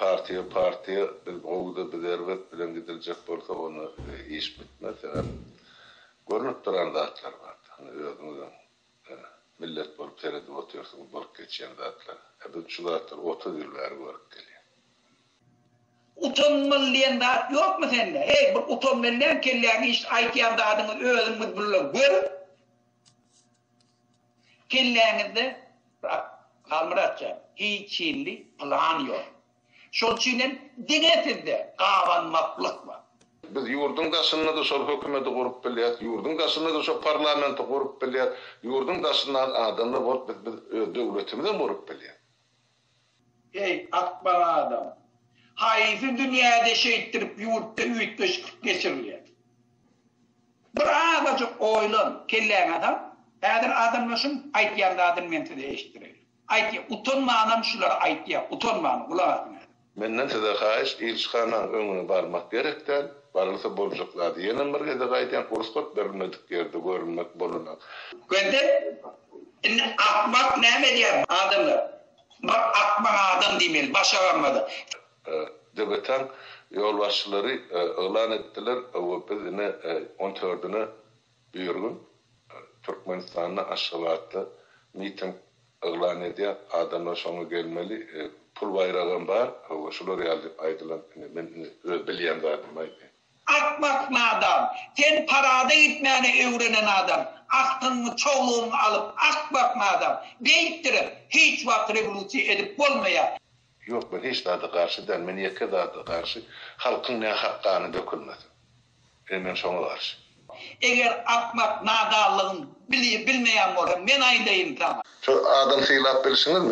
Partiýa partiýa biz gowuda biz erbet bilen gidiljek bolsa onda iş bitmez sebäp görnüp duran zatlar bar indi özüňizem millet bolup seredip otyrsyňyz bolup geçýän zatlar e biz şu zatlar otuz ýyl bäri görüp gelýäs. Utanmaly diýen zat ýokmy sende heý bir utan menden kelläňi işit aýtýan zadyňyz özüňiz bulla görüň. Kelläňizde brat Halmyrat jan hiç hili plan ýok. Şol üçin hem diňe sizde gabanmaklyk bar. Biz ýurduň daşynda-da şol hökümeti gurup bilýäs, ýurduň daşynda-da şo parlamenti gurup bilýäs, ýurduň daşyndan adamlar bolup biz biz öz döwletimizem gurup bilýäs. Heý, akbaň adam! Haýsy dünýäde şeýtdirip ýurtda üýtgeşiklik geçirilýär? Bir azajyk oýlan, kelläňe sal, häzir adamlaşyň, aýtýan zadyny men size eşitdireýin. Aýtýa, utanmanam şulary aýtýa, utanman, gulak asyň häzir. Menden size haýyş, ilçihanaň öňüne barmak gerek däl, barylsa boljak zady. Ýenem bir gezek aýdýan, rugsat berilmedik ýerde görünmek bolanok. Gördiň? Indi akmak näme edýär? Adamlar, Bir akmaň adam diýmeli, baş agamada. Döbeteň ýolbaşçylary yglan etdiler we biz ine on tördüne birigün Türkmenistanda Aşgabatda miting yglan edýär, adamlar şoňa gelmeli, pul baýragam bar we şular ýaly diýip aýdylan, ine men öz bilýän zadymy aýdýan. Akmak nadan, sen parada gitmäni öwrenen adam, agtyňyňy çowlugyňy alyp akmak nadan, beýtdirip hiç wagt rewolusiýa edip bolmaýar. Ýok men hiç zada garşy däl men ýeke zada garşy halkyň nähak gany dökülmesin ine men şoňa garşy. Eger akmak nadanlygyň bilmeýän bolsaň men aýdaýyn saňa. Şu adam sylap bilişiňizmi?